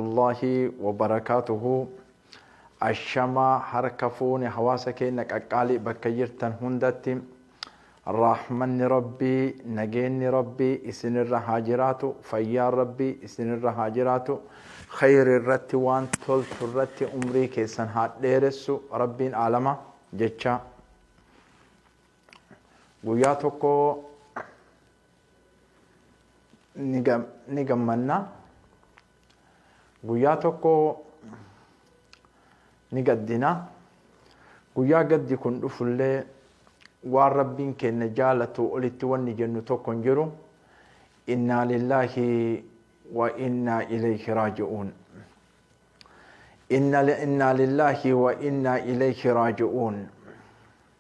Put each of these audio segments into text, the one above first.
Allahi wabarakatuhu Ashama harka fuune hawaasa keenya qaqqaalii bakka jirtan hundatti Rahmanni Rabbii nageenni Rabbii isinirra haa jiraatu fayyaan Rabbii isinirra haa jiraatu khayri irratti waan toltu irratti umrii keessan haa dheeressu Rabbiin aalama jecha guyyaa tokko ni gammanna guyyaa tokko ni gaddina guyyaa gaddi kun dhufullee waan rabbiin keenya jaalatu olitti wanni jennu tokko hin jiru innaa lillaahi wa innaa ilayhi raaji'uun innaa lillaahi wa innaa ilayhi raaji'uun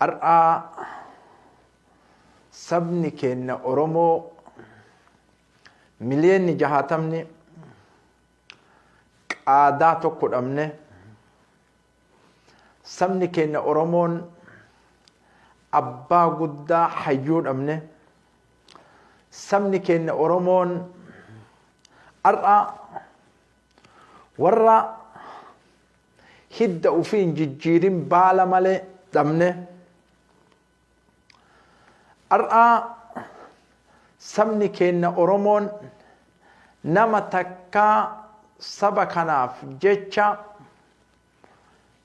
Har'aa sabni keenna Oromoo miliyoonni jahaatamni qaadaa tokko dhabne sabni keenna Oromoon abbaa guddaa hayyuu dhabne sabni keenna Oromoon har'aa warra Hidda ufii hin jijjiirin baala malee dhabne. Har'aa sabni keenna Oromoon nama takkaa saba kanaaf jecha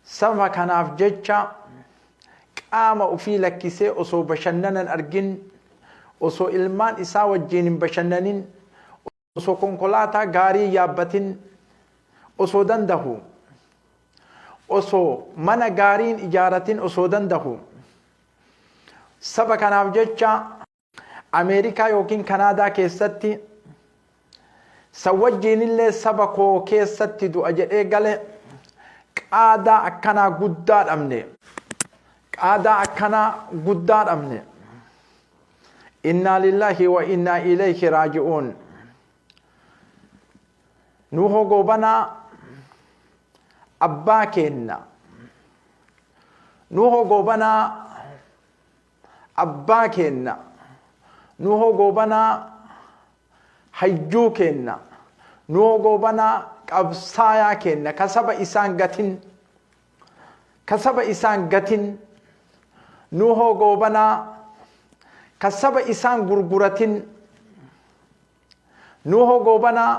saba kanaaf jecha qaama ufii lakkisee osoo bashannanan argin osoo ilmaan isaa wajjiin hin bashannanin Osoo konkolaataa gaarii hin yaabbatin osoo dandahu, osoo mana gaarii hin ijaaratin osoo dandahu, saba kanaaf jecha Ameerikaa yookiin Kanaadaa keessatti san wajjiinillee saba koo keessatti du'a jedhee gale qaadaa akkanaa guddaa dhabne. Qaadaa akkanaa guddaa dhabne. Innaa lillahi wa innaa ilayhi raaji'uun. Nuuhoo Goobanaa abbaa keenna. Nuuhoo Goobanaa abbaa keenna. Nuuhoo Goobanaa hayyuu keenna. Nuuhoo Goobanaa qabsaayaa keenna ka saba isaan gatin. Ka saba isaan gatin, Nuuhoo Goobanaa, ka saba isaan gurguratin, Nuuhoo Goobanaa,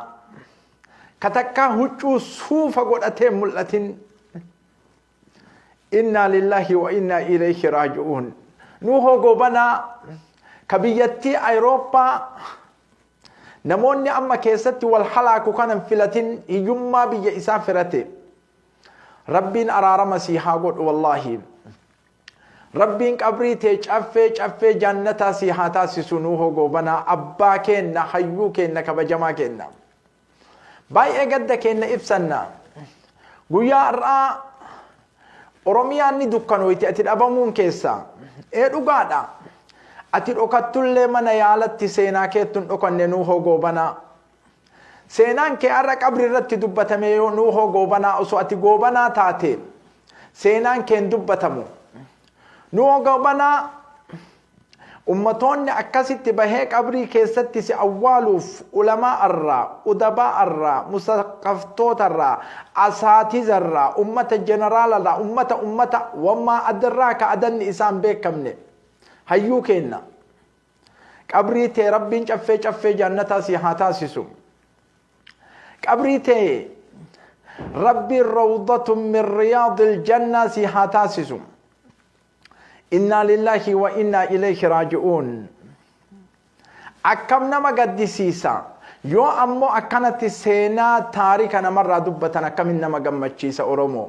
ka takkaa huccuu suufa godhatee hin mul'atin, Innaa lillaahi wa innaa ilayhi raaji'uun. Nuuhoo Goobanaa, ka biyyattii Ayirooppaa namoonni amma keessatti wal halaaku kana hin filatin, hiyyummaa biyya isaa firate. Rabbiin araarama sii haa godhu wallaahi. Rabbiin qabrii tee caffee caffee jaannataa sii haa taasisu nuu hogoobanaa abbaa keenna hayyuu keenna kabajamaa keenna. Baay'ee gadda keenna ibsanna. Guyyaa har'aa Oromiyaan ni dukkanooyti ati dhabamuun keessa. Ee dhugaadha. Ati dhokattullee mana yaalatti seenaa keettun dhokanne nuu hogoobanaa. Seenaan kee har'a qabri irratti dubbatame yoo nuuhoo goobanaa osoo ati goobanaa taate seenaan kee hin dubbatamu. Nuuhoo goobanaa ummatoonni akkasitti bahee qabrii keessatti si awwaaluuf ulamaa irraa, udabaa irraa, musaqaftoota irraa, asaatiza irraa, ummata jeneraala irraa, ummata ummata wammaa adarraa ka adanni isaan beekamne hayyuu keenna. Qabrii tee rabbiin caffee caffee jaannataa sii haa taasisu. Qabrii tee rabbiin rawdatun min riyaadil jannaa sii haa taasisu. Innaa lillaahi wa innaa ilayhi raaji'uun. Akkam nama gaddisiisa. Yoo ammoo akkanatti seenaa taarika namarraa dubbatan akkamiin nama gammachiisa Oromoo.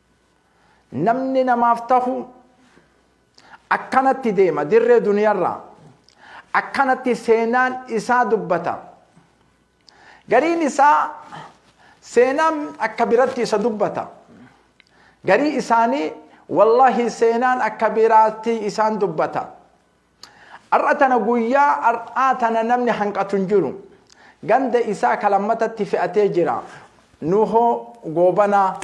Namni namaaf tahu akkanatti deema dirree duniyarraa. Akkanatti seenaan isaa dubbata. Gariin isaa seenaan akka biratti isa dubbata. Garii isaanii wallaahi seenaan akka biraatti isaan dubbata. Har'a tana guyyaa har'aa tana namni hanqatu hin jiru. Ganda isaa ka lammatatti fe'atee jira. Nuhoo Goobanaa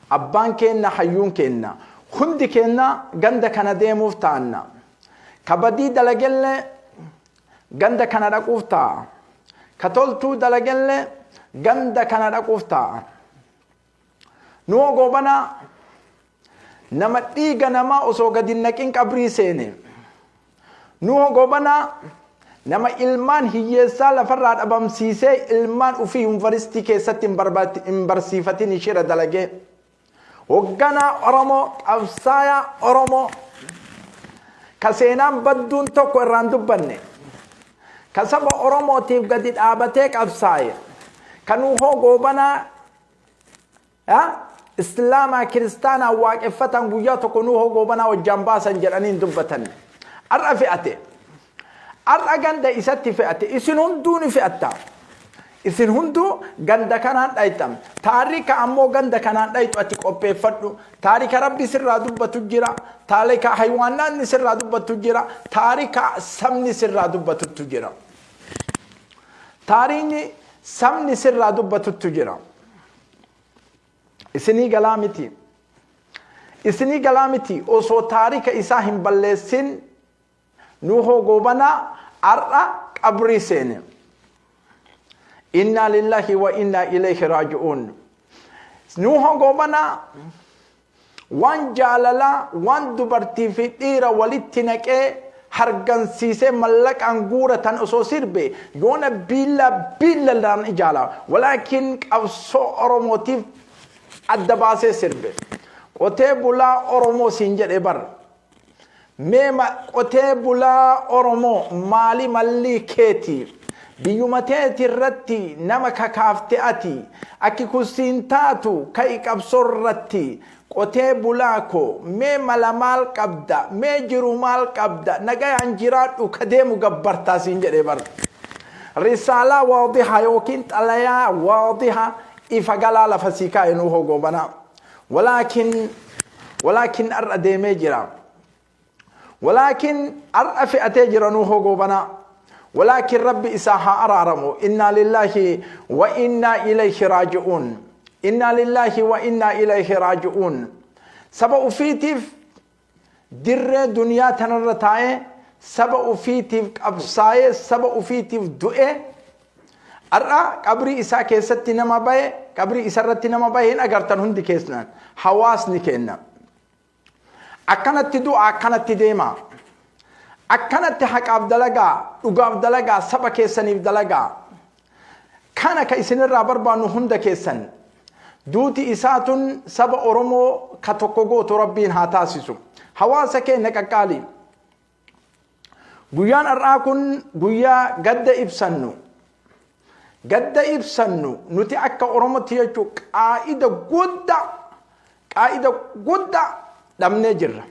abbaan keenna hayyuun keenna hundi keenna ganda kana deemuuf taanna. Ka badii dalagelle ganda kana dhaquuf taa'a. Ka toltuu dalagelle ganda kana dhaquuf taa'a. Nuhoo Goobanaa nama dhiiga namaa osoo gadi hin naqin qabrii seene. Nuhoo Goobanaa nama ilmaan hiyyeessaa lafarraa dhabamsiisee ilmaan ofii yuunivarsiitii keessatti hin barsiifatin shira dalagee. Hogganaa Oromoo qabsaayaa Oromoo ka seenaan badduun tokko irraan dubbanne. Kan saba Oromootiif gadi dhaabatee qabsaa'e, kan uhoo goobanaa ah, Islaamaa kiristaanaan waaqeffataan guyyaa tokko nuuhoo goobanaa wajjaan baasan jedhanii hin dubbatan. Har'a fe'ate. Har'a ganda isatti fe'ate. Isin hunduu ni fe'atta. Isin hunduu ganda kanaan dhayxan. Taarika ammoo ganda kanaan dhayxu ati qopheeffadhu. Taarika Rabbi sirraa dubbatu jira. Taarika haywaannaanni sirraa dubbattu jira. Taarika sabni sirraa dubbatuttu jira. Taariikni sabni sirraa dubbatuttu jira. Isinii galaa miti. Isinii galaa miti osoo taarika isaa hin balleessin Nuhoo Goobanaa har'a qabrii seene. Innaa lillahi wa innaa ilayhi raaji'uun. Nuhoo Goobanaa waan jaalalaa waan dubartii fi dhiira walitti naqee hargansiisee mallaqaan guuratan osoo sirbe yoona biillaa biillalaan ijaala. Walaakiin qabsoo Oromootiif adda baasee sirbe. Qotee bulaa Oromoo siin jedhe bar. Mee ma qotee bulaa oromoo maali mallii keeti biyyuma teeti irratti nama kakaafte ati akki kun siin taatu ka'i qabsoo irratti qotee bulaa koo mee mala maal qabda mee jiru maal qabda nagayaan jiraadhu ka deemu gabbartaa siin jedhee bar risaalaa waadiha yookiin xalayaa waadiha ifa galaa lafa sii kaa'e nuu hoo goobanaa Walaakin walaakin har'a deemee jira. Walaakin har'a fe'atee jira nuu hogoo banaa. Walaakin rabbi isaa haa araaramu. Innaa lillaahi wa innaa ilayhi raaji'uun. Innaa lillaahi wa innaa ilayhi raaji'uun. Saba ufiitiif Dirree duniyaa tanarra taa'ee saba ufiitiif qabsaayee saba ufiitiif du'ee har'a qabrii isaa keessatti nama bahe qabrii isarratti nama bahe hin agartan hundi keessan hawaasni keenna. Akkanatti du'a akkanatti deema. Akkanatti haqaaf dalagaa dhugaaf dalagaa saba keessaniif dalagaa. Kana ka isin irraa barbaannu hunda keessan duuti isaa tun saba Oromoo ka tokko gootu Rabbiin haa taasisu. Hawaasa keenya qaqqaalii. Guyyaan har'aa kun guyyaa gadda ibsannu. Gadda ibsannu nuti akka Oromootti jechuun qaa'ida guddaa qaa'ida guddaa dhabnee jirra.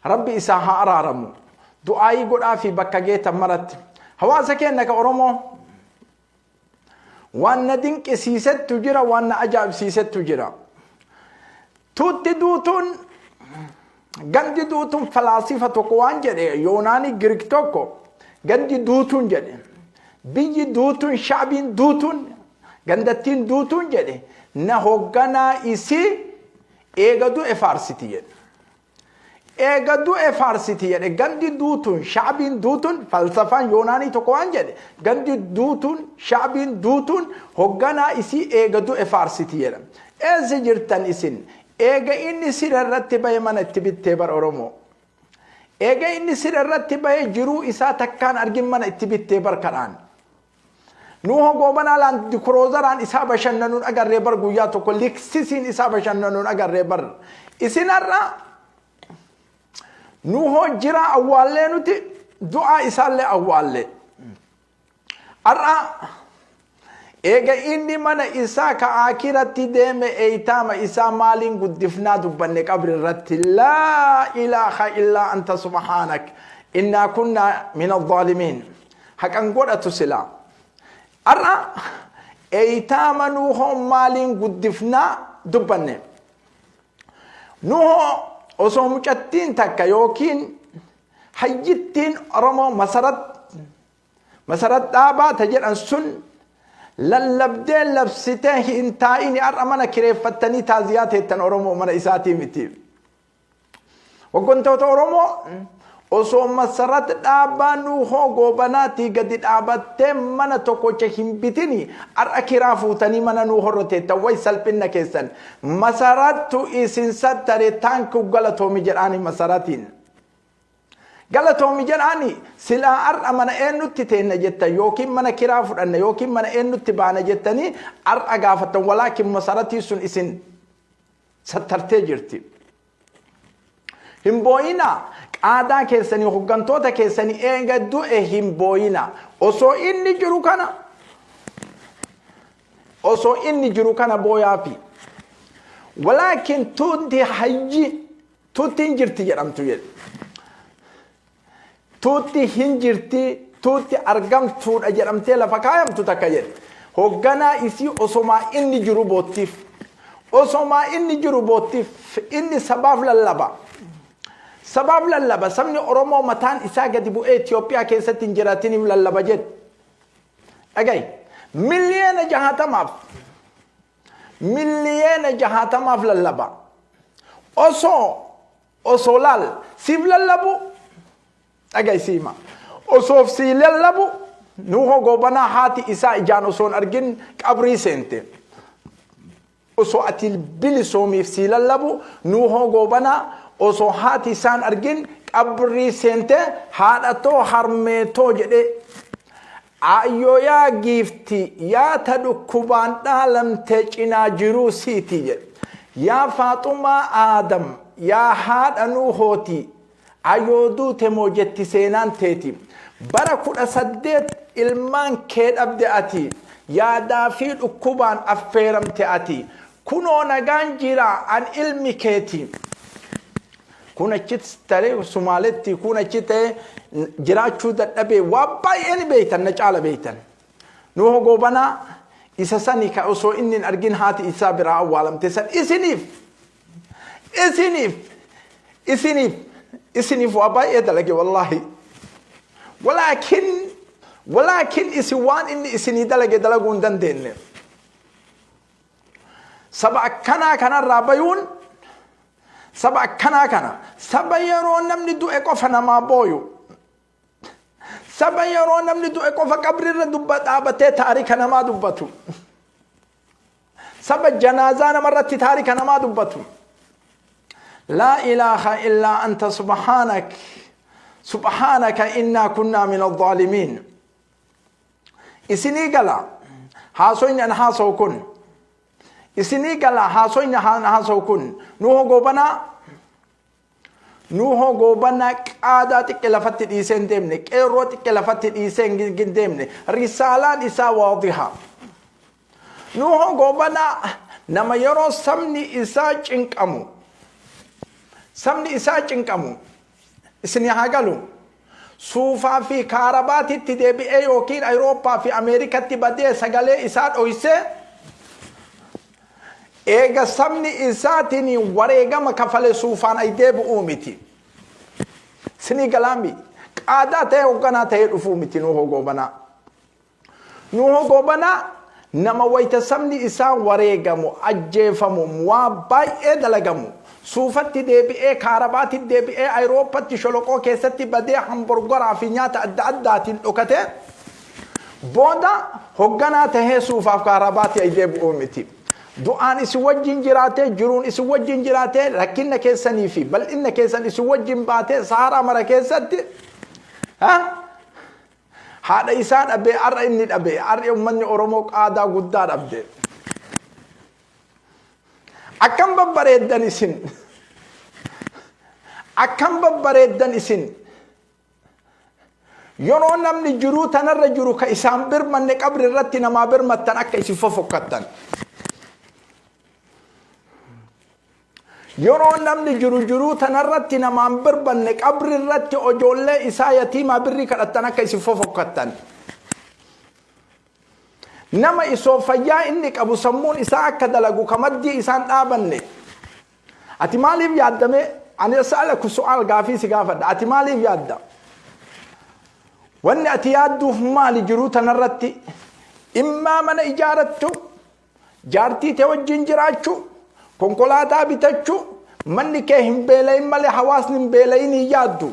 Rabbi isaa haa araaramu. Du'aayii godhaa fi bakka geetan maratti. Hawaasa keenya ka Oromoo waan na dinqisiisettu jira, waan na ajaa'ibsiisettu jira. Tuutti duutuun gandi duutuun falaasifa tokko waan jedhe yoonaanii girik tokko gandi duutuun jedhe biyyi duutuun shaabiin duutuun gandattiin duutuun jedhe na hoogganaa isii Eega du'e faarsiti jedhe. Eega du'e faarsiti jedhe gandi duutuun shaabiin duutuun falsafaan yoonaanii tokko waan jedhe gandi duutuun shaabiin duutuun hogganaa isii eega du'e faarsiti jedha. Eessa jirtan isin eega inni sira irratti bahe mana itti bittee bara Oromoo. Eega inni sira irratti bahe jiruu isaa takkaan argin mana itti bittee bar kadhaan. Nuuho goobanaa laandi kuroozaraan isaa bashannanuun agarree bar guyyaa tokko liksisiin isaa bashannanuun agarree bar. Isin har'a nuuhoo jiraa awwaallee nuti du'aa isaallee awwaallee. Har'a eega inni mana isaa ka akiratti deeme eeytaama isaa maaliin guddifnaa dubbanne qabri irratti laa ilaaha illaa anta subhaanak innaa kunnaa min adh-dhaalimiin. Haqan godhatu silaa. Har'a eeytaa manuu hoo maaliin guddifnaa dubbanne. Nuhoo osoo mucattiin takka yookiin hayyittiin Oromoo masarat masarat dhaabaa ta jedhan sun lallabdee labsitee hin taa'ini har'a mana kireeffattanii taaziyaa teettan Oromoo mana isaatii miti. Hoggantoota Oromoo osoo masarat dhaabaa nuuhoo goobanaatii gadi dhaabattee mana tokkocha hin bitini har'a kiraa fuutanii mana nuuhoo irra teettan way salphinna keessan masarattu isin sattare taanku galatoomi jedhaani masaratiin. Galatoomi jedhaani silaa har'a mana eenyutti teenna jettan yookiin mana kiraa fudhanna yookiin mana eenyutti baana jettanii har'a gaafattan walaakin masaratii sun isin sattartee jirti. Hin booyinaa, qaadaa keessanii hoggantoota keessanii eega du'e hin booyinaa. Osoo inni jiru kana osoo inni jiru kana booyaafi. Walaakin tuuti hajji tuutiin jirti jedhamtu jedhe. tuutti hin jirti tuutti argamtuudha jedhamtee lafa kaayamtu takka jedhe hoogganaa isii osomaa inni jiru boottiif osomaa inni jiru boottiif inni sabaaf lallaba sabaaf lallaba sabni oromoo mataan isaa gadi bu'ee Itoophiyaa keessatti hin jiraatiniif lallaba jedhe dhagahi miliyoona jahatamaaf miliyoona jahatamaaf lallaba osoo Osoo laal siif lallabu dhaga'i si hima. Osoof si lallabu nuuhoo goobanaa haati isaa ijaan osoo hin argin qabrii seente. Osoo ati bilisoomiif si lallabu nuuhoo goobanaa osoo haati isaa hin argin qabrii seente haadhatoo harmeetoo jedhee Aayyoo yaa giifti yaa ta dhukkubaan dhaalamte cinaa jiruu siiti jedhe yaa faaxumaa aadam yaa haadha nuuhooti ayoo duute moo jetti seenaan teeti bara kudha saddeet ilmaan kee dhabde ati yaadaa fi dhukkubaan affeeramte ati kunoo nagaan jira an ilmi keeti Kun achittis ta'e Sumaaleetti kun achi ta'e jiraachuu dadhabee waan baay'ee ni beektan na caala beektan. Nuuho Goobanaa isa sani ka osoo inni hin argin haati isaa biraa awwaalamte san isiniif isiniif isiniif isiniif waa baay'ee dalage wallaahi. Walaakin walaakin isin waan inni isinii dalage dalaguu hin dandeenye. Saba akkanaa kanarraa bayuun Saba akkanaa kana saba yeroo namni du'e qofa namaa booyu. Saba yeroo namni du'e qofa qabrirra dubba dhaabatee taarika namaa dubbatu. Saba janaazaa namarratti taarika namaa dubbatu. Laa ilaaha illaa anta subhaanak. Subhaanaka innaa kunnaa min adh-dhaalimiin. Isinii gala haasoyni an haasawu kun. Isinii gala haasoyni haan haasawu kun nuuhoo goobanaa nuuhoo goobanaa qaadaa xiqqe lafatti dhiisee hin deemne qeerroo xiqqe lafatti dhiisee hin deemne risaalaan isaa waadihaa. Nuuhoo goobanaa nama yeroo sabni isaa cinqamu sabni isaa cinqamu Isinii haa galu. Suufaa fi kaarabaatiitti deebi'ee yookiin Ayirooppaa fi Ameerikatti badee sagalee isaa dhoysee eega sabni isaatiin wareegama kafale suufaan ay deebi'uu miti. Isinii galaami. Qaadaa ta'ee hogganaa ta'ee dhufuu miti nuu hogoobanaa. Nuhoo Goobanaa nama wayita sabni isaa wareegamu, ajjeefamu, waa baay'ee dalagamu, suufatti deebi'ee, kaarabaatti deebi'ee, Ayirooppatti sholoqoo keessatti badee hamborgoraa fi nyaata adda addaatiin dhokatee booda hogganaa tahee suufaaf kaarabaatti ay deebi'uu miti. Du'aan isin wajjin jiraatee, jiruun isin wajjin jiraatee, rakkinna keessanii fi bal'inna keessan isin wajjin baatee Sahaaraa mara keessatti Haadha isaa dhabee har'a inni dhabe. Har'i ummanni Oromoo qaadaa guddaa dhabde. Akkam babbareeddan isin! Akkam babbareeddan isin! Yeroo namni jiruu tanarra jiru ka isaan birmanne qabri irratti namaa birmattan akka isin fofokkattan. Yeroo namni jiru jiruu tanarratti namaan birbanne qabri irratti ojoollee isaa yatiimaa birrii kadhattan akka isin fofokkattan. Nama isoo fayyaa inni qabu sammuun isaa akka dalagu ka maddii isaan dhaabanne. Ati maaliif yaaddame? Ani sa'alaku su'aal gaafii si gaafadha. Ati maaliif yaadda? Wanni ati yaadduuf maali jiruu tanarratti? Immaa mana ijaarattu, Jaartii tee wajjin jiraachuu, konkolaataa bitachuu, manni kee hin beela'in malee hawaasni hin beela'in hin yaaddu.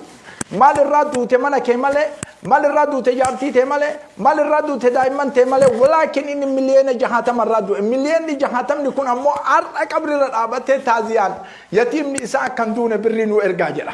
Maal irraa duute mana kee malee, maal irraa duute jaartii tee malee, maal irraa duute daa'imman tee malee walaakin inni miliyeena jahaatama irraa du'e. Miliyeenni jahaatamni kun ammoo har'a qabrirra dhaabatee taaziyaan yatiimni isaa akka hin duune birrii nuu ergaa jedha.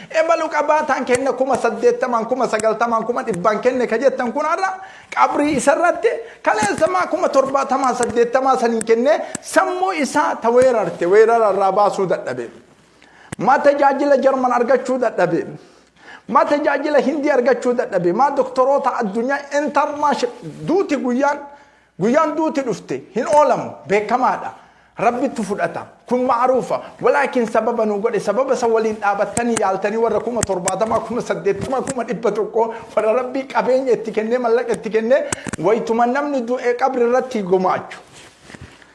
Ebalu qabaataan kenna kuma saddeettamaan kuma sagaltamaan kuma dhibbaan kenne ka jettan kun har'a qabrii isarratti kaleessamaa kuma torbaatamaa saddeettamaa saniin kennee sammuu isaa ta weerarte weerara irraa baasuu dadhabe. Maa tajaajila Jarman argachuu dadhabe. Maa tajaajila Hindii argachuu dadhabe. Maa doktoroota addunyaa international duuti guyyaan Guyyaan duuti dhufte hin oolamu beekamaadha. Rabbittu fudhata. Kun ma'aruufa. Walaakin sababa nu godhe sababa isa waliin dhaabattanii yaaltanii warra kuma torbaatamaa, kuma saddeettamaa, kuma dhibba tokkoo warra Rabbii qabeenya itti kennee mallaqa itti kennee wayituma namni du'e qabri irratti gumaachu.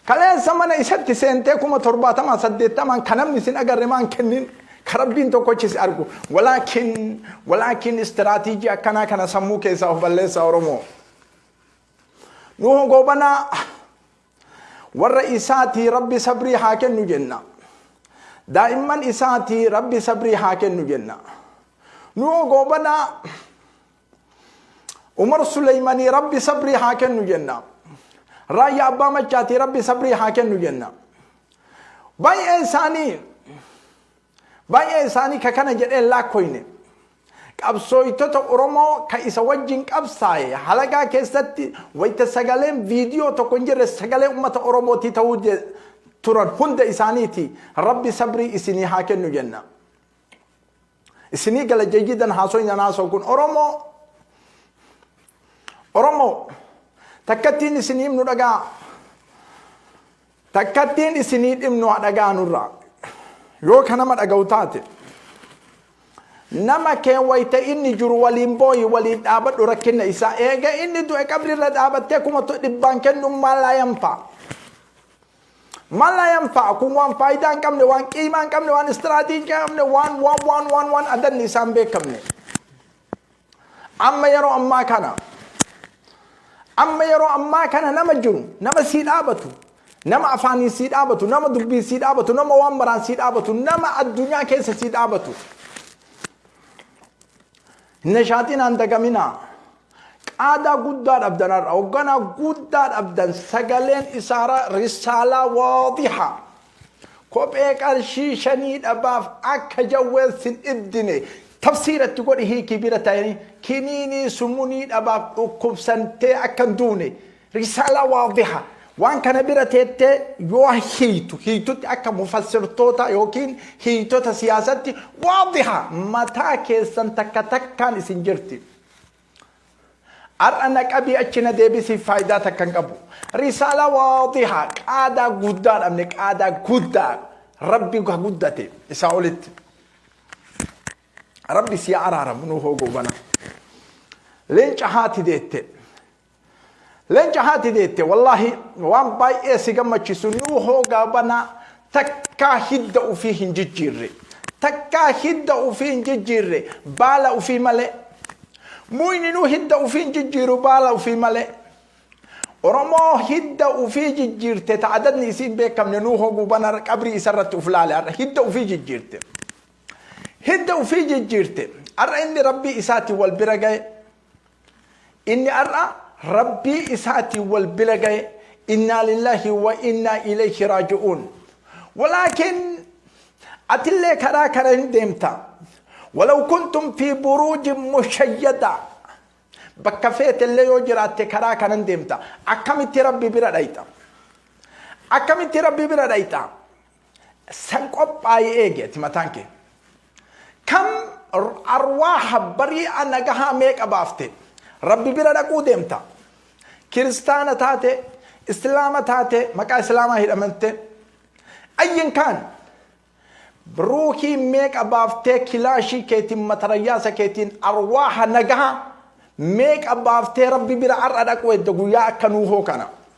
Kaleessa mana isatti seentee kuma torbaatamaa saddeettamaan ka namni isin agarre maan kennin ka Rabbiin tokkochi si argu. Walaakin walaakin istiraatiijii akkanaa kana sammuu keessaa of balleessaa Oromoo. Nuhu Goobanaa warra isaatii rabbi sabrii haa kennu jenna. Daa'imman isaatii rabbi sabrii haa kennu jenna. Nuhu Goobanaa Umar Suleeymanii rabbi sabrii haa kennu jenna. Raayyaa Abbaa Machaatii rabbi sabrii haa kennu jenna. Baay'ee isaanii baay'ee isaanii ka kana jedheen laakkoyne. Qabsooytota Oromoo ka isa wajjin qabsaaye halagaa keessatti wayta sagaleen viidiyoo tokko hin jirre sagalee ummata Oromootii ta'uu turan hunda isaaniiti Rabbi sabrii isinii haa kennu jenna. Isinii gala jayyidan haasoyna naasoo kun Oromoo Oromoo takkattiin isinii himnu dhagaa Takkattiin isinii dhimnu haa dhaga'anu irraa yoo ka nama dhaga'u taate nama kee wayta inni jiru waliin booyi waliin dhaabadhu rakkinna isaa eega inni du'e qabri irra dhaabattee kuma dhibbaan kennuun maal laa yanfaa maal laa yanfaa kun waan faayidaa hin qabne waan qiimaa hin qabne waan istiraatii hin qabne waan waan waan waan waan adanni isaan beekamne Amma yeroo ammaa kana amma yeroo ammaa kana nama jiru nama sii dhaabatu nama afaaniin sii dhaabatu nama dubbiin sii dhaabatu nama waan maraan sii dhaabatu nama addunyaa keessa sii dhaabatu nashaaxinaan dagaminaa qaadaa guddaa dhabdan har'a hogganaa guddaa dhabdan sagaleen isaara risaalaa waadihaa Kophee qarshii shanii dhabaaf akka jawween sin dhibdine tafsiira itti godhi hiikii bira ta'ee kiniinii sumunii dhabaaf dhukkubsantee akka hin duune risaalaa waadiha waan kana bira teettee yoo hiitu hiitutti akka mufassirtoota yookiin hiitota siyaasatti waadiha mataa keessan takka takkaan isin jirti. Har'a na qabii achi na deebisii faayidaa takka hin qabu. Risaala waadiha qaadaa guddaa dhabne qaadaa guddaa rabbi ka guddate isaa olitti. Rabbi si araaramu nu hoo goobana. Leenca haati deette Leenca haati deette wallaahi waan baay'ee si gammachiisu nuu hoogaa banaa takkaa hidda ofii hin jijjiirre. Takkaa hidda ofii hin jijjiirre baala ofii malee. Muyni nuu hidda ofii hin jijjiiru baala ofii malee. Oromoo hidda ofii jijjiirte ta adadni isii hin beekamne nuu hoguu bana qabrii isarratti of laale har'a hidda ofii jijjiirte. Hidda ofii jijjiirte har'a inni rabbii isaati wal bira ga'e Inni ar'a Rabbii isaatiin wal bira gahe innaa lillahi wa innaa ilayhi raaji'uun. Walaakin atillee karaa kana hin deemta. Walaw kuntum fi buruujin mushayyada. Bakka feetellee yoo jiraatte karaa kana hin deemta. Akkamitti Rabbi bira dhayxa? Akkamitti Rabbi bira dhayxa? San qophaa'ee eegi ati mataan kee. Kam arwaaha barii'a nagahaa meeqa baafte rabbi bira dhaquu deemta. Kiristaana taate, Islaama taate, maqaa Islaamaa hidhamatte. Ayyin kaan ruuhii meeqa baaftee kilaashii keetiin matarayyaasa keetiin arwaaha nagahaa meeqa baaftee rabbi bira har'a dhaquu edda guyyaa akka nuuhoo kana.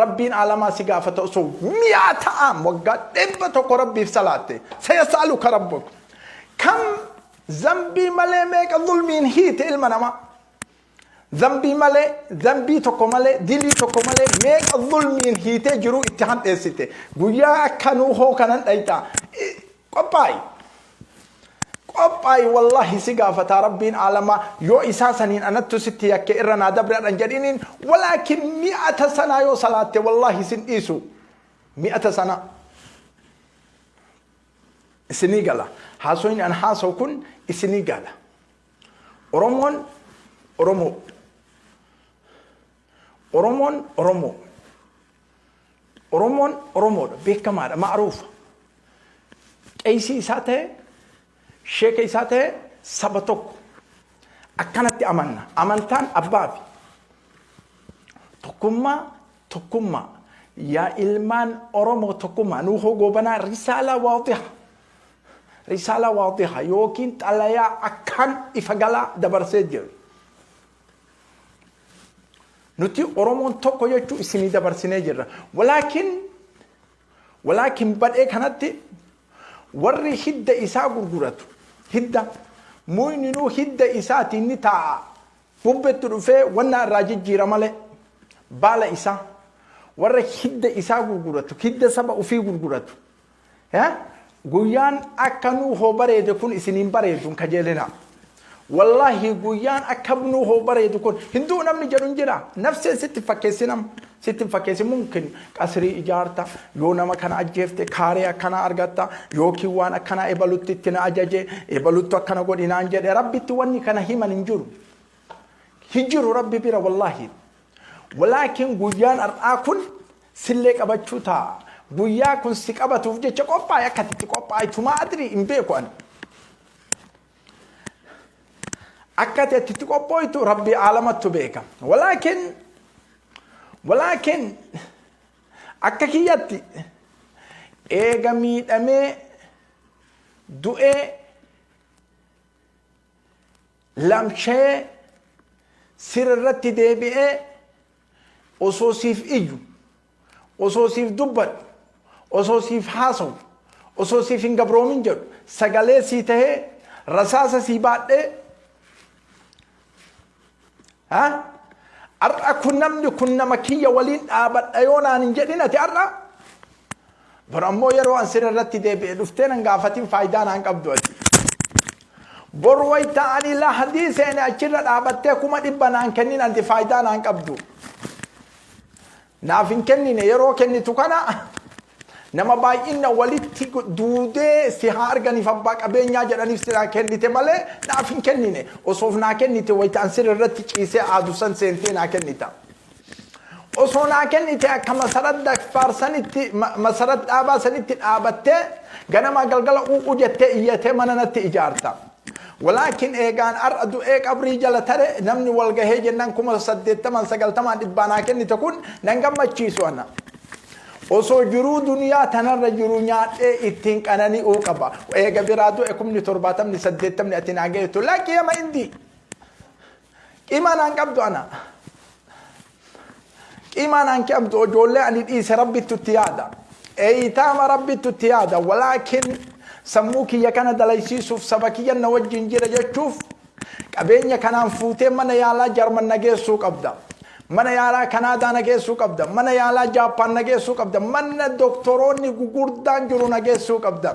Rabbiin aalamaa si gaafata osoo mi'aata aam waggaa dhibba tokko rabbiif salaatte sayasaaluka rabbuk kam zambii malee meeqa zulmiin hiite ilma namaa zambii malee zambii tokko malee dilii tokko malee meeqa zulmiin hiitee jiruu itti handheessite guyyaa akka nuuhoo kanan dhayxaa qophaa'i qophaa'i wallahi si gaafataa rabbiin aalamaa yoo isaa saniin anattu sitti yakke irra naa dabradhan jedhiniin walaakin mi'ata sanaa yoo salaatte wallahi sin dhiisu mi'ata sanaa isinii gala haasoyin an haasa'u kun isinii gala oromoon oromoo Oromoon Oromoo. Oromoon Oromoodha. Beekamaadha. Maaruufa. Qeesii isaa ta'e, sheeka isaa ta'e saba tokko. Akkanatti amanna. Amantaan abbaa fi tokkummaa tokkummaa. Yaa ilmaan Oromoo tokkummaa. Nuu hogoobanaa risaalaa waadiha. Risaalaa waadiha yookiin xalayaa akkaan ifa galaa dabarsee jiru. Nuti Oromoon tokko jechuu isinii dabarsinee jirra. Walaakin walaakin badhee kanatti warri hidda isaa gurguratu hidda muuyninuu hidda isaatiin ni taa'a. Bubbetti dhufee wannaa irraa jijjiira malee baala isaa warra hidda isaa gurguratu hidda saba ofii gurguratu Guyyaan akka nuu hoo bareede kun isin hin bareedu hin kajeelina. Wallaahi guyyaan akka nuu hoo bareedu kun hin du'u namni jedhu hin jira. Nafseen sitti hin fakkeessin amma. Sitti hin fakkeessin mumkin qasirii ijaarta yoo nama kana ajjeefte kaaree akkanaa argatta yookiin waan akkanaa ebalutti itti na ajaje ebaluttu akkana godhi naan jedhe rabbitti wanni kana himan hin jiru. Hin jiru rabbi bira wallaahi. Walaakin guyyaan har'aa kun sillee qabachuu ta'a. Guyyaa kun si qabatuuf jecha qophaa'i akka itti qophaa'i tumaa adirii hin beeku ani. Akka ati itti qophooytu rabbi aalamattu beeka. Walaakin walaakin akka kiyyatti eega miidhamee du'ee Lamshee sira irratti deebi'ee osoo siif iyyu, osoo siif dubbadhu, osoo siif haasawu, osoo siif hin gabroomin jedhu sagalee sii tahee rasaasa sii baadhee Haa? Har'a kun namni kun nama kiyya waliin dhaabadha yoo naan hin jedhin ati har'a bor ammoo yeroo an sirra irratti deebi'e dhuftee nan gaafatin faayidaa naan qabdu ati. Bor wayita ani lahadii seene achirra dhaabattee kuma dhibba naan kennin ati faayidaa naan qabdu. Naaf hin kennine yeroo kennitu kana nama baay'inna walitti duudee si haa arganiif abbaa qabeenyaa jedhaniif siraa kennite malee naaf hin kennine osoof naa kennite wayita an siree irratti ciisee aadu san seentee naa kennita. Osoo naa kennite akka masarat dakfaar sanitti masarat dhaabaa sanitti dhaabattee ganamaa galgala u'u jettee iyyatee mana natti ijaarta. Walakin eegaan ar'a du'ee qabrii jala tare namni wal gahee jennan kuma saddeettaman sagaltamaan dhibbaan haa kennita kun nan gammachiisu ana. Osoo jiruu duniyaa tanarra jiru nyaadhee ittiin qanani'uu qaba. Eega biraa du'e kumni torbaatamni saddeettamni ati naa gahetu lakkii ama indii. Qiimaa naan qabdu ana. Qiimaa naan qabdu ijoollee ani dhiise rabbittu itti yaada. Eeyitaama rabbittu itti yaada. Walaakin sammuu kiyya kana dalaysiisuuf saba kiyya na wajjin jira jechuuf qabeenya kanaan fuutee mana yaalaa Jarman na geessuu qabda. Mana yaalaa Kanaadaa na geessuu qabda. Mana yaalaa Jaappaan na geessuu qabda. Mana doktoroonni gugurdaan jiru na geessuu qabda.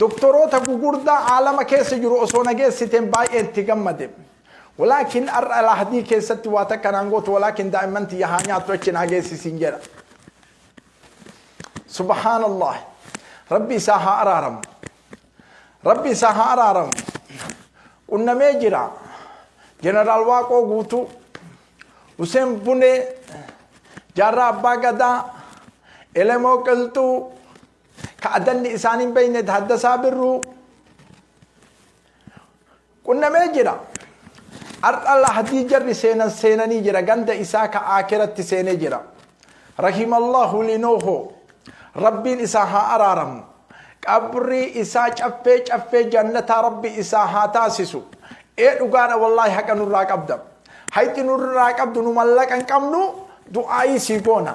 Doktoroota gugurdaa aalama keessa jiru osoo na geessiteen baay'een itti gammade. Walaakin har'a Lahdii keessatti waa takka naan gootu walaakin daa'imman tiyya haa nyaattu achi naa geessi siin jedha. Subhaanallaah. Rabbi isaa haa araaramu. Rabbi isaa haa araaramu. Qunnamee jira. Jeneraal Waaqoo Guutuu, Huseen Bunee, Jaarraa Abbaa Gadaa, Elemoo Qilxuu, Ka adalli isaan hin beekne Taaddasaa Birruu qunnamee jira. Har'a lahdii jarri seenan seenanii jira. Ganda isaa ka aakiratti seenee jira. Rahimallahu linooho. Rabbiin isaa haa araaramu. Qabrii isaa caffee caffee jannataa rabbi isaa haa taasisu. Ee dhugaadha wallaahi haqa nurraa qabda. Hayti nurraa qabdu nu mallaqa hin qabnu du'aayii sii goona.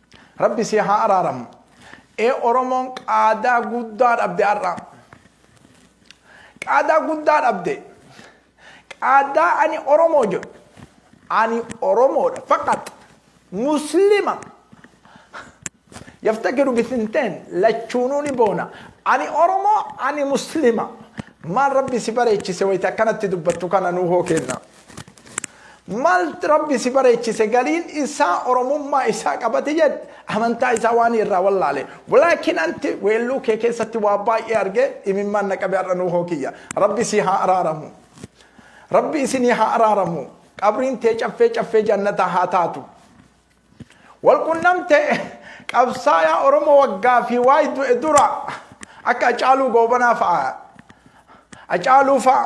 Rabbi sii haa araaramu. Ee Oromoon qaadaa guddaa dhabde har'a. Qaadaa guddaa dhabde. Qaadaa ani Oromoo jedhu. Ani Oromoodha faqat. Muslima. Yaftakiru bisinteen lachuunuu ni boona. Ani Oromoo ani Muslima. Maal Rabbi si bareechise wayita akkanatti dubbattu kana nuu hoo kenna. Maaltu rabbi si bareechise galiin isaa oromummaa isaa qabate jedhe amantaa isaa waan irraa wallaale. Walaakin anti weelluu kee keessatti waa baay'ee arge imimmaan na qabe har'a nuuhoo kiyya. Rabbi si haa araaramu. Rabbi isinii haa araaramu. Qabriin tee caffee caffee jannataa haa taatu. Walqunnamte qabsaayaa Oromoo waggaa fi waay du'e dura akka Acaaluu Goobanaa fa'a. Acaaluu fa'a.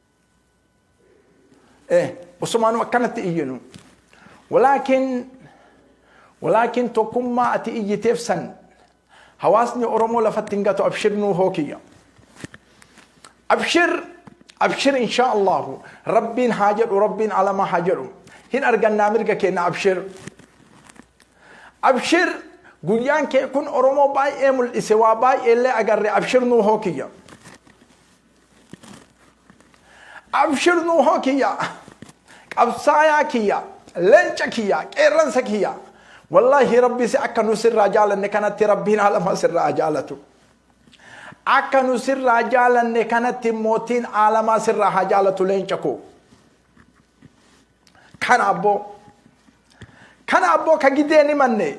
Osomaanuu akkanatti iyyinu. Walaakin walaakin tokkummaa ati iyyiteef san hawaasni Oromoo lafatti hin gatu abshir nuu hoo kiyya. Abshir abshir inshaa Allahu rabbiin haa jedhu rabbiin alamaa haa jedhu hin argannaa mirga keenya abshir. Abshir guyyaan kee kun Oromoo baay'ee mul'ise waa baay'ee illee agarre abshir nuu hoo kiyya. abshir nuuhoo kiyyaa qabsaayaa kiyyaa leenca kiyyaa qeerransa kiyyaa wallaahi rabbi si akka nu sirraa jaalanne kanatti rabbiin aalama sirraa jaalatu akka nu sirraa jaalanne kanatti mootiin aalamaa sirraa haa jaalatu leenca koo Kana abboo. Kana abboo ka gidee ni manne.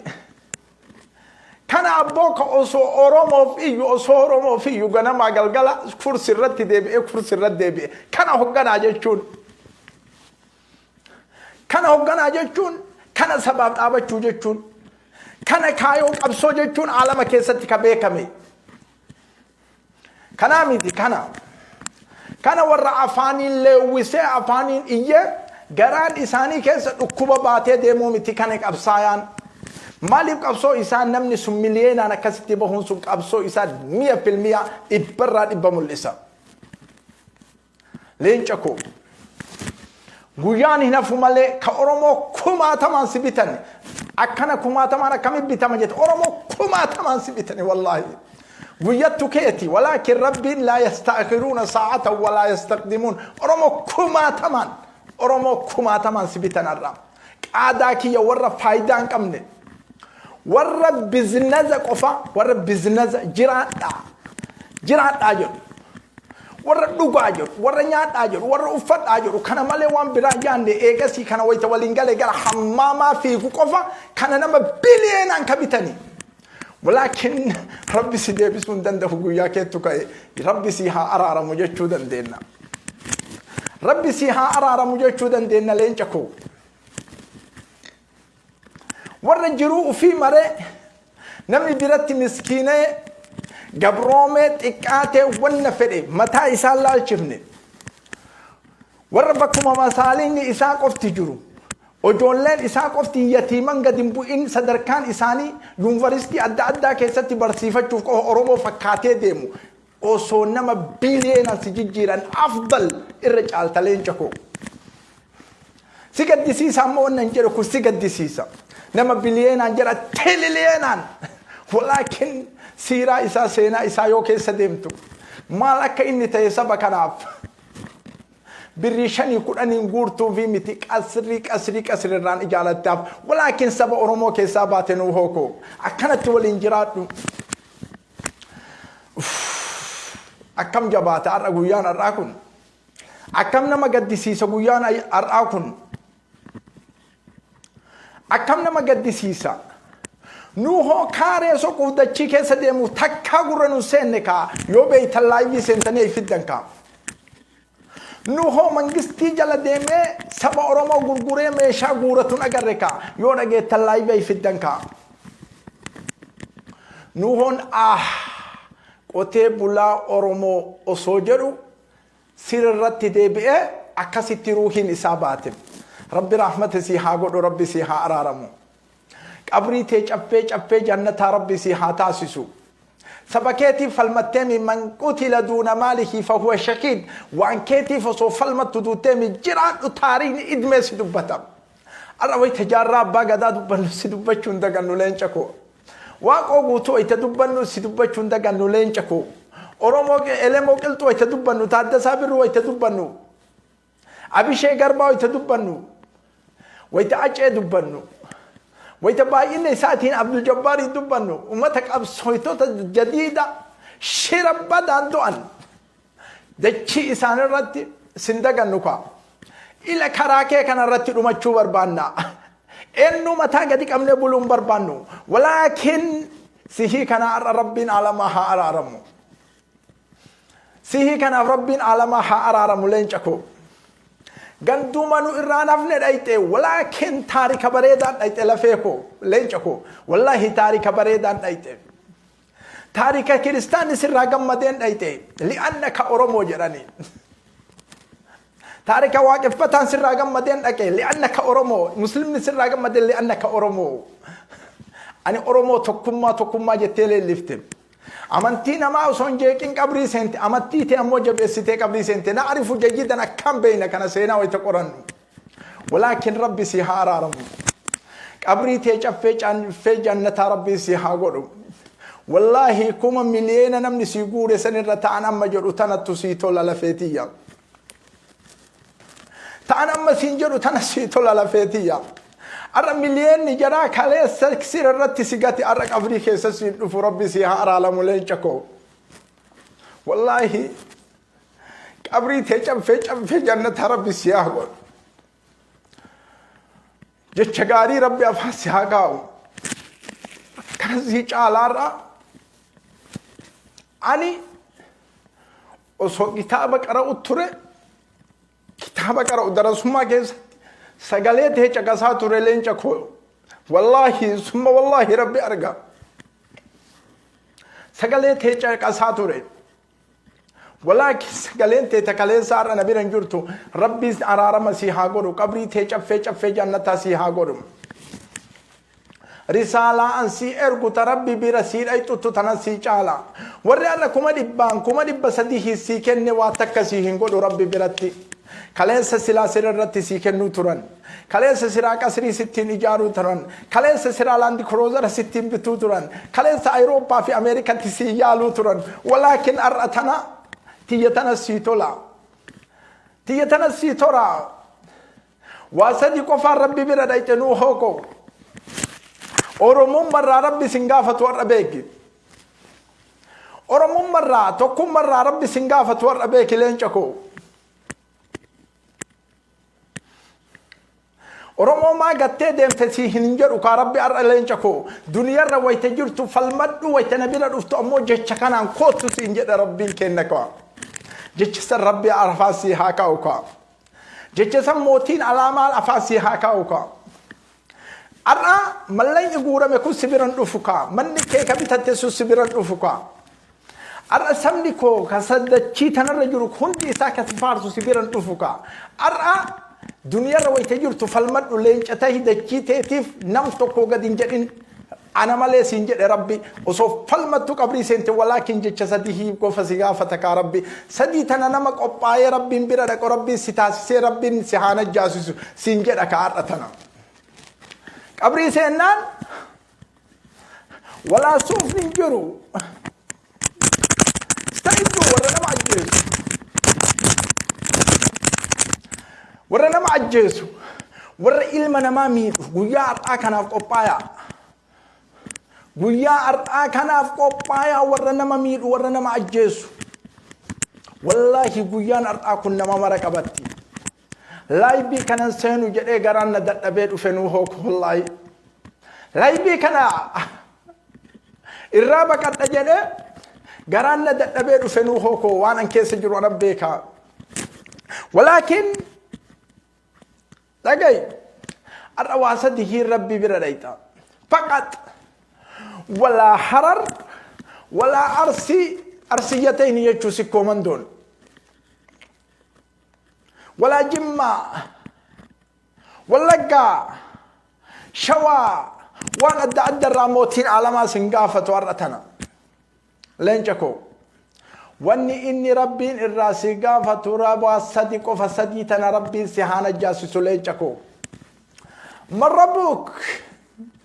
Kana abboo ka osoo Oromoof iyyu osoo Oromoof iyyu ganamaa galgala kursi irratti deebi'ee kursi irratti deebi'e. Kana hogganaa jechuun. Kana hogganaa jechuun kana sabaaf dhaabachuu jechuun. Kana kaayoo qabsoo jechuun alama keessatti ka beekame. Kanaa miti kana. Kana warra afaaniin leewwisee afaaniin iyyee garaan isaanii keessa dhukkuba baatee deemuu miti kana qabsaayaan. Maaliif qabsoo isaa namni sun miliyeenaan akkasitti bahuun sun qabsoo isaa miya filmiyaa dhibbarraa dhibba mul'isa. Leenca koo. Guyyaan hin hafu malee ka Oromoo kumaatamaan si bitan akkana kumaatamaan akkamitti bitama jette Oromoo kumaatamaan si bitani wallaahi. Guyyattu keeti walaakin rabbiin laa yastaakiruuna saa'ata walaa yastaqdimuun Oromoo kumaatamaan Oromoo kumaatamaan si bitan har'aa. Qaadaa kiyya warra faayidaa hin qabne warra biznaza qofa warra biznaza jiraadhaa jiraadhaa jedhu warra dhugaa jedhu warra nyaadhaa jedhu warra uffadhaa jedhu kana malee waan biraa hin yaanne eegasii kana wayita waliin gale gara hammaamaa fiigu qofa kana nama biliyeenaan ka bitanii Walakin rabbi si deebisuu hin dandahu guyyaa keettu ka'e rabbi sii haa araaramu jechuu dandeenna. Rabbi sii haa araaramu jechuu dandeenna leenca koo. Warra jiruu ufii maree namni biratti miskiinee gabroomee xiqqaatee wanna fedhe mataa isaa laalchifne warra bakkuma masaalinni isaa qofti jiru Ijoolleen isaa qofti yatiiman gad hin bu'in sadarkaan isaanii yuunvaristii adda addaa keessatti barsiifachuuf qofa Oromoo fakkaatee deemu osoo nama biliyeenaan si jijjiiran afdal irra caalta leenca koo. Si gaddisiisa amma wanna hin jedhu kun si gaddisiisa. Nama biliyeenaan jedha tililiyeenaan walaakin siiraa isaa seenaa isaa yoo keessa deemtu maal akka inni ta'e saba kanaaf Birrii shanii kudhaniin guurtuufii miti qasrii qasrii qasrirraan ijaarattaaf walaakin saba Oromoo keessaa baate nuu hookoo akkanatti waliin jiraadhu. Akkam jabaata har'a guyyaan har'aa kun akkam nama gaddisiisa guyyaan har'aa kun Akkam nama gaddisiisa. Nu hoo kaaree soquuf dachii keessa deemuuf takkaa gurra nu seenne kaa yoo beeytan laayivii seentanii ay fiddan kaa. Nu hoo mangistii jala deemee saba Oromoo gurguree meeshaa guuratuun agarre kaa yoo dhageettan laayivii ay fiddan kaa. Nu hoon ah qotee bulaa Oromoo osoo jedhu sir irratti deebi'ee akkasitti ruuhiin isaa baatin rabbi rahmata sii haa godhu rabbi sii haa araaramu qabrii tee caffee caffee jannataa rabbi sii haa taasisu saba keetiif falmattee mi man qutila duuna maalihi fahuwa shahiid waan keetiif osoo falmattu duuttee mi jiraadhu taariin idmee si dubbata arra wayta jaarraa abbaa gadaa dubbannu si dubbachuu hin dagannu leenca koo Waaqoo guutuu wayita dubbannu si dubbachuu hin dagannu leenca koo. Oromoo Elemoo Qilxuu wayita dubbannu Taaddasaa Birruu wayita dubbannu Abishee Garbaa wayita dubbannu wayita Acee dubbannu wayita baay'ina isaatiin Abdul Jabbaarii dubbannu uummata qabsooytoota jadiida shira badaan du'an Dachii isaan irratti sin dagannu kaa. Ila karaa kee kana irratti dhumachuu barbaanna. Eennu mataa gadi qabnee buluu hin barbaannu. Walaakin sihii kana har'a Rabbiin aalamaa haa araaramu. Sihii kanaaf Rabbiin aalamaa haa araaramu leenca koo. Ganduuma nu irraan hafne dhayxee walaakin taarika bareedaan dhayxe lafee koo leenca koo. Wallaahi taarika bareedaan dhayxe. Taarika kiristaanni sirraa gammadeen dhayxe li'anna ka Oromoo jedhani. Taarika waaqeffataan sirraa gammadeen dhaqe li'anna ka Oromoo muslimni sirraa gammadeen li'anna ka Oromoo. Ani Oromoo tokkummaa tokkummaa jettee leellifte. Amantii namaa osoo hin jeeqin qabrii seente amantii tee ammoo jabeessitee qabrii seente na arifu jayyidan akkaan beeyna kana seenaa wayita qorannu. Walaakin rabbi si haa araaramu. Qabrii tee caffee caffee jannataa rabbiin si haa godhu. Wallaahi kuma miliyeena namni si guure san irra ta'an amma jedhu tanattu sii tola lafee tiyya. Ta'an amma siin jedhu tana sii tola lafee tiyya. Arra miliyeenni jaraa kaleessa sira irratti si gate arra qabrii keessa siin dhufu rabbi si haa araaramu leenca koo. Wallaahi Qabrii tee canfee canfee jannataa rabbi si haa godhu. Jecha gaarii rabbi afaan si haa kaa'u. Kanas si caalaarraa ani osoo kitaaba qara'u ture kitaaba qara'u darasummaa keessatti sagalee tee caqasaa ture leenca koo wallaahi summa wallaahi rabbi arga sagalee tee caqasaa ture. Walaaki sagaleen tee takaleessa har'a na bira hin jirtu rabbii araarama sii haa godhu qabrii tee caffee caffee jannataa sii haa godhu. Risaalaa an sii ergu ta rabbi bira sii dhayxuttu tanan sii caala. Warri har'a kuma dhibbaan kuma dhibba sadihii sii kenne waa takka sii hin godhu rabbi biratti. Kaleessa silaa sirra irratti sii kennuu turan. Kaleessa siraa qasrii sittiin ijaaruu turan. Kaleessa siraa laandi kuroozara sittiin bituu turan. Kaleessa Ayirooppaa fi Ameerikatti sii yaaluu turan. Walaakin har'a tana tiyya tanas sii tola. Tiyya tanas sii tora. Waa sadi qofaan rabbi bira dhayxe nuu hooko. Oromummarraa rabbi sin gaafatu har'a beeki. Oromummarraa tokkummarraa rabbi sin gaafatu har'a beeki leenca koo. Oromoo maa gattee deemte sii hin hin jedhu kaa rabbi har'a leenca koo duniyarra wayita jirtu falmadhu wayita na bira dhuftu ammoo jecha kanaan koottu siin jedha rabbiin kenna kaa. Jecha san rabbi arafaan sii haa kaa'u kaa. Jecha san mootiin alaamaa afaan sii haa kaa'u kaa. Har'a mallanyi guurame kun si biran dhufu kaa. Manni kee ka bitatte sun si biran dhufu kaa. Har'a sabni koo ka saddachii tanarra jiru hundi isaa ka si faarsu si biran dhufu kaa. Har'a duniyarra wayita jirtu falmadhu leenca tahi dachii teetiif nam tokkoo gad hin jedhin. Ana malee siin jedhe rabbi osoo falmattu qabrii seente walaakin jecha sadii hii gofa si gaafata kaa rabbi sadii tana nama qophaayee rabbiin bira dhaqu rabbiin si taasisee rabbiin si haa najjaasisu siin jedha kaa har'a tana qabrii seennaan walaa suufni hin jiru Thank you warra nama ajjeesu. Warra nama ajjeesu. Warra ilma namaa miidhu. Guyyaa har'aa kanaaf qophaayaa. Guyyaa har'aa kanaaf qophaayaa warra nama miidhu warra nama ajjeesu. Wallaahi guyyaan har'aa kun nama mara qabatti. Laaybii kanan seenu jedhee garaan na dadhabee dhufe nuu hook hollaay. Laaybii kana irraa baqadha jedhee garaan na dadhabee dhufe nuu hookoo waan an keessa jiru anan beekaa. Walaakin dhagayi har'a waa sadihiin rabbii bira dhayxa. Faqat walaa harar walaa arsii arsiyyatayni jechuu sikkoo mandoon. Walaa Jimmaa, Wallaggaa, Shawaa waan adda adda irraa mootiin aalamaa sin gaafatu har'a tana. Leenca koo. Wanni inni rabbiin irraa si gaafatu rabaa sadi qofa sadii tana rabbiin si haa najjaasisu leenca koo. Marrabuk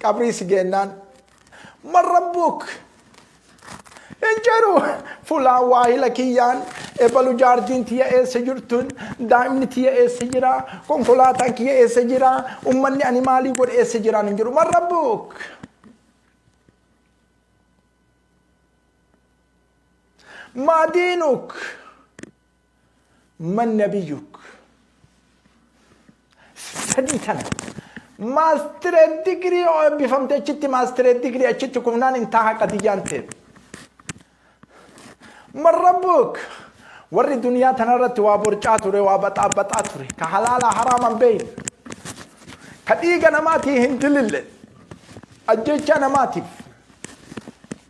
qabrii si geennaan marrabbuk hin jedhu fulaan waahila kiyyaan ebalu jaartiin tiyya eessa jirtun daa'imni tiyya eessa jira konkolaataan kiyya eessa jira ummanni ani maalii godhe eessa jiraan hin jedhu marrabbuk maadiinuk man nabiyyuk sadii tana maastireet digirii eebbifamte achitti maastireet digirii achitti kufnaan hin taaha qadiyyaan ta'e man rabbuk warri duniyaa tanarratti waa borcaa ture waa baxaabaxaa ture ka halaala haraaman beeyne ka dhiiga namaatii hin dilille ajjechaa namaatiif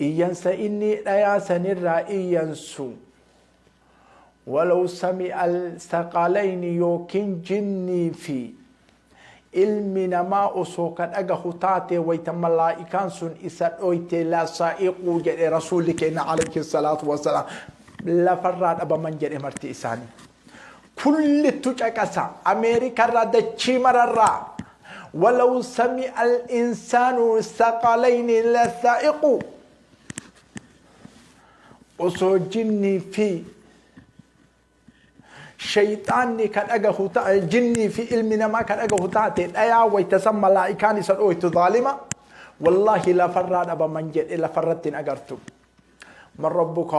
Iyyansa inni dhayaa sanirraa iyyansu walaw sami'al saqalayni yookiin jinnii fi ilmi namaa osoo ka dhagahu taate wayta malaa'ikaan sun isa dhooyte la saa'iquu jedhe rasuulli keenya alayhi salaatu wassalaam lafarraa dhabaman jedhe marti isaanii Kullittu caqasa Ameerikarraa dachii mararraa walaw sami al insaanu saqalayni la sa'iqu osoo jinnii fi shayxaanni ka dhagahu ta- jinnii fi ilmi namaa ka dhagahu taate dhayaa wayta san malaa'ikaan isa dhooytu zaalima wallaahi lafarraa dhabaman jedhe lafarratti hin agartu man rabbuka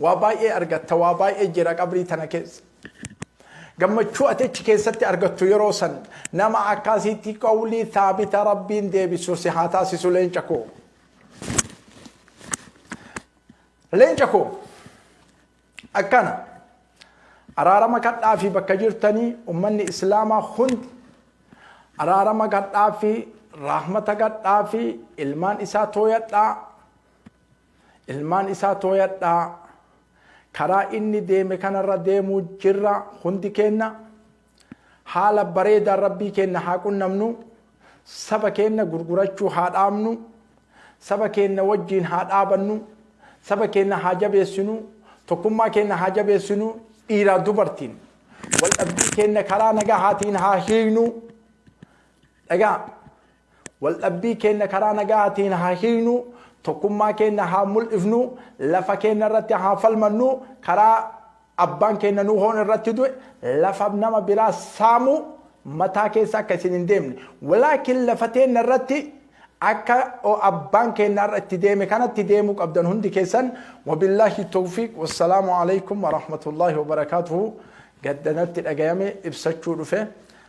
Waa baay'ee argatta, waa baay'ee jira qabrii tana keessa. Gammachuu ati achi keessatti argattu yeroo san nama akkaasiitti qawlii thaabita rabbiin deebisu si haa taasisu leenca koo. Leenca koo akkana araarama kadhaa fi bakka jirtanii ummanni islaamaa hundi araarama kadhaa fi rahmata kadhaa fi ilmaan isaa tooyadhaa Ilmaan isaa tooyadhaa. Karaa inni deeme kanarra deemuu jirra hundi keenna. Haala bareedaan Rabbii keenna haa qunnamnu. Saba keenna gurgurachuu haa dhaabnu. Saba keenna wajjiin haa dhaabannu. Saba keenna haa jabeessinu. Tokkummaa keenna haa jabeessinu. Dhiiraa dubartiin. Waldhabbii keenna karaa nagahaatiin haa hiiknu. Dhagaa. Waldhabbii keenna karaa nagayaatiin haa hiiknu, tokkummaa keenna haa mul'ifnu, lafa keenna irratti haa falmannu, karaa abbaan keenna Nuuhoon irratti du'e lafa nama biraa saamuu mataa keessa akka isin hin deemne, walaakin lafa teenna irratti akka abbaan keenna har'a itti deeme kanatti deemuu qabdan hundi keessan. Wabillaahi towfiiq. Wassalaamu aleykum warahmatullaahi wabarakaatuhu. Gadda natti dhagayame ibsachuu dhufe.